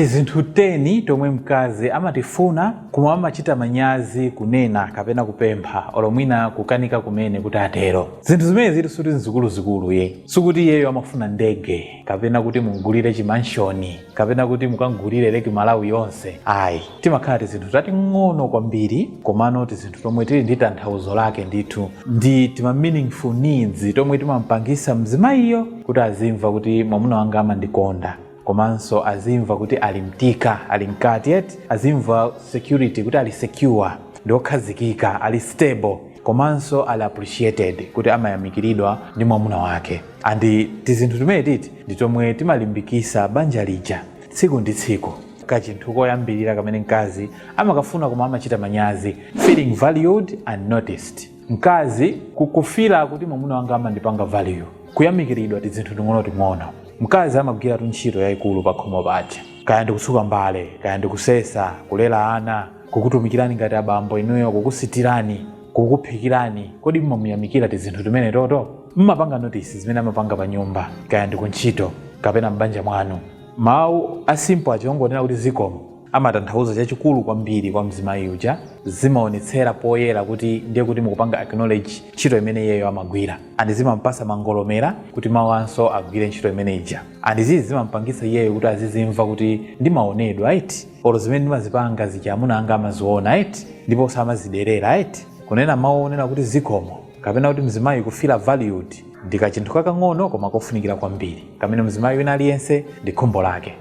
Tizinthu teni tomwe mkazi amatifuna koma amachita manyazi kunena kapena kupempha olo mwina kukanika kumene kuti atero. Zinthu zimenezitu suti nzikuluzikulu yi. Sikuti iyeyo amafuna ndege kapena kuti mumgulire chi manshoni kapena kuti mukamgulire Lake Malawi yonse ayi. Timakhala tizinthu tating'ono kwambiri komano tizinthu tomwe tili ndi tanthauzo lake ndithu ndi tima meaningful deeds tomwe timampangisa mzimayiyo kuti azimva kuti mwamuna wanga amandikonda. komanso azimva kuti ali mtika ali mkati eti azimva security kuti ali secure ndi okhazikika ali stable komanso ali appreciated kuti amayamikiridwa ndi mwamuna wake andi tizinthu timene titi ndi tomwe timalimbikisa banja lija tsiku ndi tsiku kachinthu koyambirira kamene mkazi amakafuna koma amachita manyazi feeling valued and noticed mkazi kufila kuti mwamuna wanga amandipanga value kuyamikiridwa tizinthu ting'onoting'ono mkazi amagwiratu ntchito yayikulu pakhomo paja kaya ndikutsuka mbale kaya ndikusesa kulera ana kukutumikirani ngati abambo inuyo kukusitirani kukuphikirani kodi mmamuyamikira tizinthu timene toto mmapanga notice zimene amapanga pa nyumba kaya ndikuntchito kapena m'banja mwanu mawu asimple achongonena kuti zikomo amatanthauza chachikulu kwambiri kwa mzimayi uja zimaonetsera poyera kuti ndiye kuti mukupanga acknowledge ntchito imene iyeyo amagwira and zimampasa mangolomera kuti mawanso agwire ntchito imene ija and izi zimampangisa iyeyo kuti azizimva kuti ndimaonedwa eti olo zimene ndimazipanga zija amuna anga amaziona eti ndipo samaziderera eti kunena mawu onena kuti zikomo kapena kuti mzimayi kufila valued ndi kachinthu kakang'ono koma kofunikira kwambiri kamene mzimayi wina aliyense ndi khumbo lake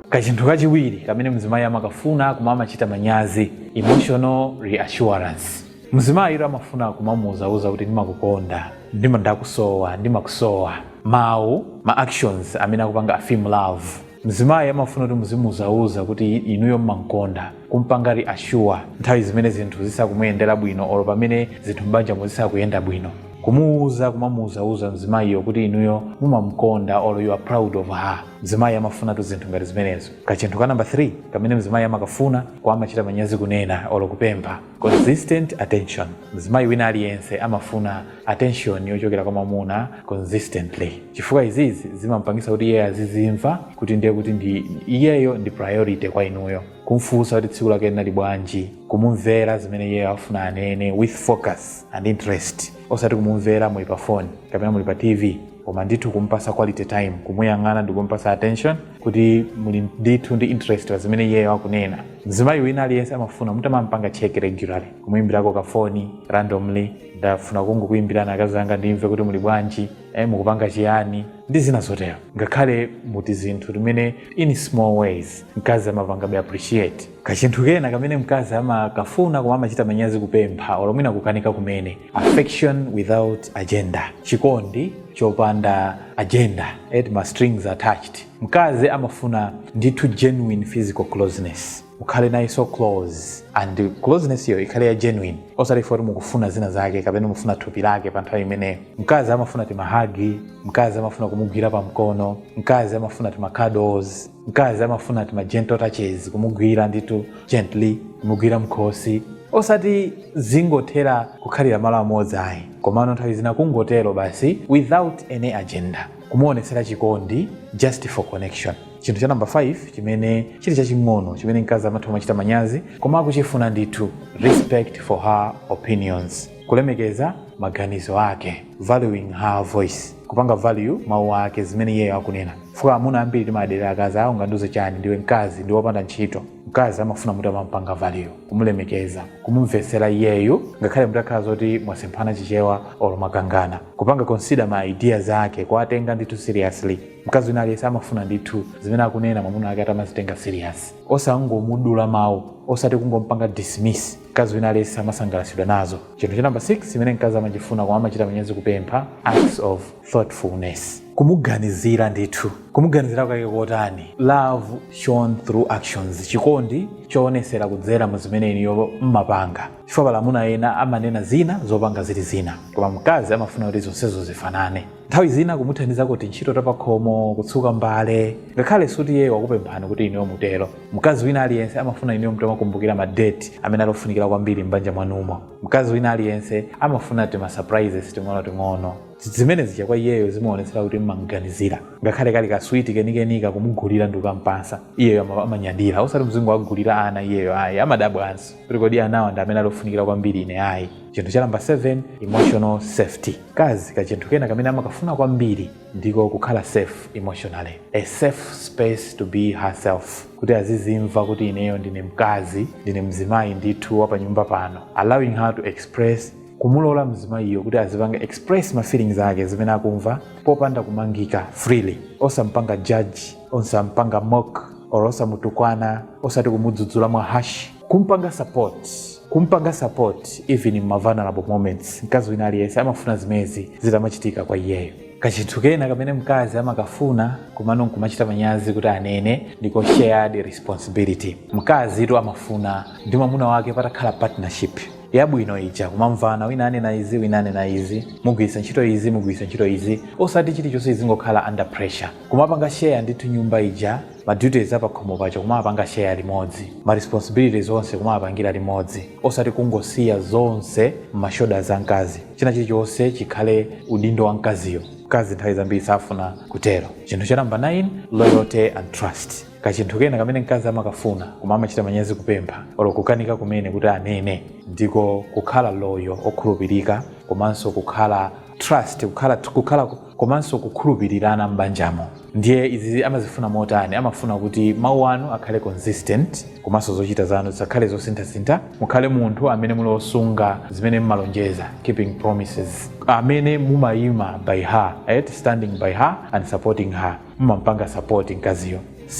kachinthu kachiwiri kamene mzimayi amakafuna koma amachita manyazi emotional reassurance mzimayitu amafuna kumamuuzauza kuti ndimakukonda ndima ndakusowa ndimakusowa mawu ma actions amene akupanga affirm love mzimayi amafuna kuti muzimuuzauza kuti inuyo mmamkonda kumpanga reassure nthawi zimene zinthu zisakumuyendera bwino olo pamene zinthu m'banjamo zisakuyenda bwino kumuuza kumamuuzauza mzimayiyo kuti inuyo mumamkonda olo you are proud of her mzimayi amafunatu zinthu ngati zimenezo kachinthu ka namba 3 kamene mzimayi amakafuna koma amachita manyazi kunena olo kupempha Consistent attention. Mzimayi wina aliyense amafuna attention yochokera kwa mwamuna consistently, chifukwa izizi zimampangisa kuti iyeyo azizimva kuti ndiye kuti iyeyo ndi priority kwa inuyo, kumfunsa kuti tsiku lake linali bwanji, kumumvera zimene iyeyo afuna anene with focus and interest, osati kumumvera muli pa phone kapena muli pa TV. koma ndithu kumpasa quality time kumuyang'ana ndi kumpasa attention kuti muli ndithu ndi interest pa zimene iyeyo akunena mzimayi wina aliyense amafuna mutamampanga check regularly kumuyimbirako kafoni randomly ndafuna kungokuyimbirani akazi anga ndimve kuti muli bwanji eh, mukupanga chiyani ndi zina zotero ngakhale muti zinthu timene in small ways mkazi amapangabe appreciate kachinthu kena kamene mkazi amakafuna koma amachita manyazi kupempha olo mwina kukanika kumene affection without agenda chikondi chopanda agenda et ma strings attached mkazi amafuna ndithu genuine physical closeness ukhale naye so close and closeness iyo ikhale ya genuine osati foti mukufuna zina zake kapena mufuna thupi lake pa nthawi imeneyo mkazi amafuna tima hug mkazi amafuna kumugwira pa mkono mkazi amafuna tima cuddles mkazi amafuna tima gentle touches kumugwira ndithu gently kumugwira mkhosi osati zingothera kukhalira malo amodzi ayi komano nthawi zina kungotero basi without any agenda kumuonesera chikondi just for connection chinthu cha namba 5 chimene chili chaching'ono chimene mkazi amatha kumachita manyazi koma akuchifuna ndithu respect for her opinions kulemekeza maganizo ake valuing her voice kupanga value mawu ake zimene iyeyo akunena fuka amuna ambiri timaderera akazi awo ungandiuze chani ndiwe mkazi ndiwe wopanda ntchito mkazi amafuna mutamampanga value kumulemekeza kumumvetsera iyeyu ngakhale mutakhala zoti mwasemphana chichewa olo mwakangana kupanga consider ma ideas ake kuwatenga ndithu seriously mkazi wina aliyense amafuna ndithu zimene akunena mwamuna wake atamazitenga serious osangomudula mawu osati kungompanga dismiss Mkazi wina aliyense amasangalatsidwa nazo. Chinthu cha namba 6 chimene mkazi amachifuna koma amachita manyazi kupempha, acts of thoughtfulness, kumuganizira ndithu. Kumuganizira kwake kotani? Love shown through actions, chikondi choonetsera kudzera mu zimene inuyo mmapanga. Chifukwa pali amuna ena amanena zina, zopanga zili zina, koma mkazi amafuna kuti zonsezo zifanane. Nthawi zina kumuthandizako tintchito tapakhomo, kutsuka mbale, ngakhale sikuti iyeyo wakupemphani kuti inuyo mutero. Mkazi wina aliyense amafuna inuyo mutamakumbukira ma date amene ali ofunikira kwambiri m'banja mwanumo. Mkazi wina aliyense amafuna tima surprises ting'onoting'ono. Zimene zija kwa iyeyo zimaonetsera kuti m'mam'ganizira. Ngakhale kali kaswiti kenikenika kumugulira ndi kukam'patsa, iyeyo amanyadira. Osati muzingowagulira ana iyeyo ayi, amadabwanso kuti kodi anawa ndi amene ali ofunikira kwambiri ine ayi. chinthu cha namba 7 emotional safety mkazi kachinthu kena kamene amakafuna kwambiri ndiko kukhala safe emotionally a safe space to be herself kuti azizimva kuti ineyo ndine mkazi ndine mzimayi ndithu wa panyumba pano allowing her to express kumulola mzimayiyo kuti azipanga express ma feelings ake zimene akumva popanda kumangika freely osampanga judge osampanga mock or osamutukwana osati kumudzudzula mwa harsh kumpanga support kumpanga support even in vulnerable moments mkazi wina aliyense amafuna zimezi zitamachitika kwa iyeyo kachinthu kena kamene mkazi amakafuna komano nkumachita manyazi kuti anene ndiko shared responsibility mkazitu amafuna ndi mwamuna wake patakhala partnership yabwino ija kumamvana wina anena izi wina anena izi mugwiritsa ntchito izi mugwiritsa ntchito izi osati chilichonse izingokhala under pressure Kumapanga share ndithu nyumba ija, ma duties apakhomo paja kumawapanga share limodzi, ma responsibilities onse kumawapangira limodzi osati kungosiya zonse mma shoulders a mkazi, china chilichonse chikhale udindo wa mkaziyo. Mkazi nthawi zambiri safuna kutero. Chinthu cha number 9, loyalty and trust. Kachinthu kena kamene mkazi amakafuna koma amachita manyazi kupempha olo kukanika kumene kuti anene ndiko kukhala loyal, okhulupirika komanso kukhala trust kukhala komanso kukhulupirirana m'banjamo ndiye izi amazifuna motani amafuna kuti mawu anu akhale consistent komanso zochita zanu zisakhale zosinthasintha mukhale munthu amene muli osunga zimene mmalonjeza keeping promises amene mumayima by her et standing by her and supporting her mumampanga support mkaziyo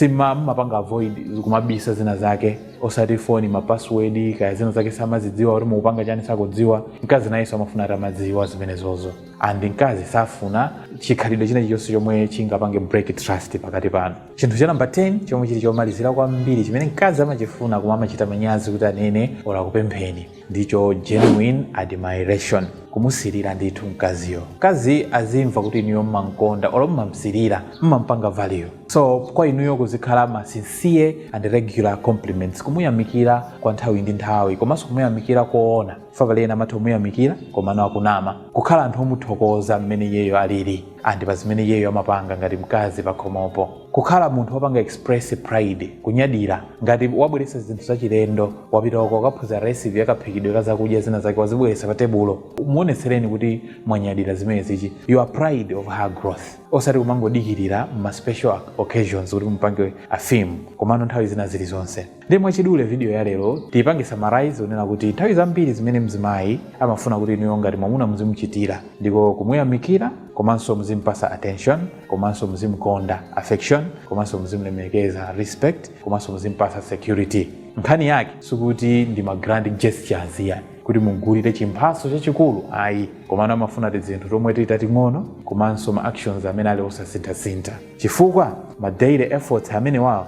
mumapanga avoid kumabisa zina zake osati foni mapassword kaya zina zake samazidziwa kuti mukupanga chani sakudziwa mkazi nayenso amafuna atamadziwa zimenezozo and mkazi safuna chikhalidwe china chilichonse chomwe chingapange break trust pakati panu chinthu cha namba 10 chomwe chili chomalizira kwambiri chimene mkazi amachifuna koma amachita manyazi kuti anene olo akupempheni ndicho genuine admiration kumusilira ndithu mkaziyo mkazi azimva kuti inuyo mmamkonda olo mmamsilira mmampanga value so kwa inuyo kuzikhala ma sincere and regular compliments kumuyamikira kwa nthawi ndi nthawi komanso kumuyamikira koona mwapaena ena amatha kumuyamikira komano akunama kukhala anthu omuthokoza mmene iyeyo alili ndi pa zimene iyeyo amapanga ngati mkazi pakhomopo kukhala munthu wopanga express pride kunyadira ngati wabweretsa zinthu zachilendo wapita uko wakaphunzira recipe yakaphikidwe ka zakudya zina zake wazibweretsa pa tebulo muonetsereni kuti mwanyadira zimenezi you are pride of her growth osati kumangodikirira ma special occasions kuti mumpange affirm komano nthawi zina zilizonse ndiye mwachidule vidiyo ya lero tiyipange summarize ponena kuti nthawi zambiri zimene mzimayi amafuna kuti inuyo ngati mwamuna muzimuchitira ndiko kumuyamikira komanso muzimpasa attention komanso muzimukonda affection komanso muzimulemekeza respect komanso muzimpasa security nkhani yake sikuti ndi ma grand gestures yani kuti mugulire chimphaso chachikulu ayi komano amafuna tizinthu tomwe tili tating'ono komanso ma actions amene ali osasinthasintha chifukwa ma daily efforts amene wawo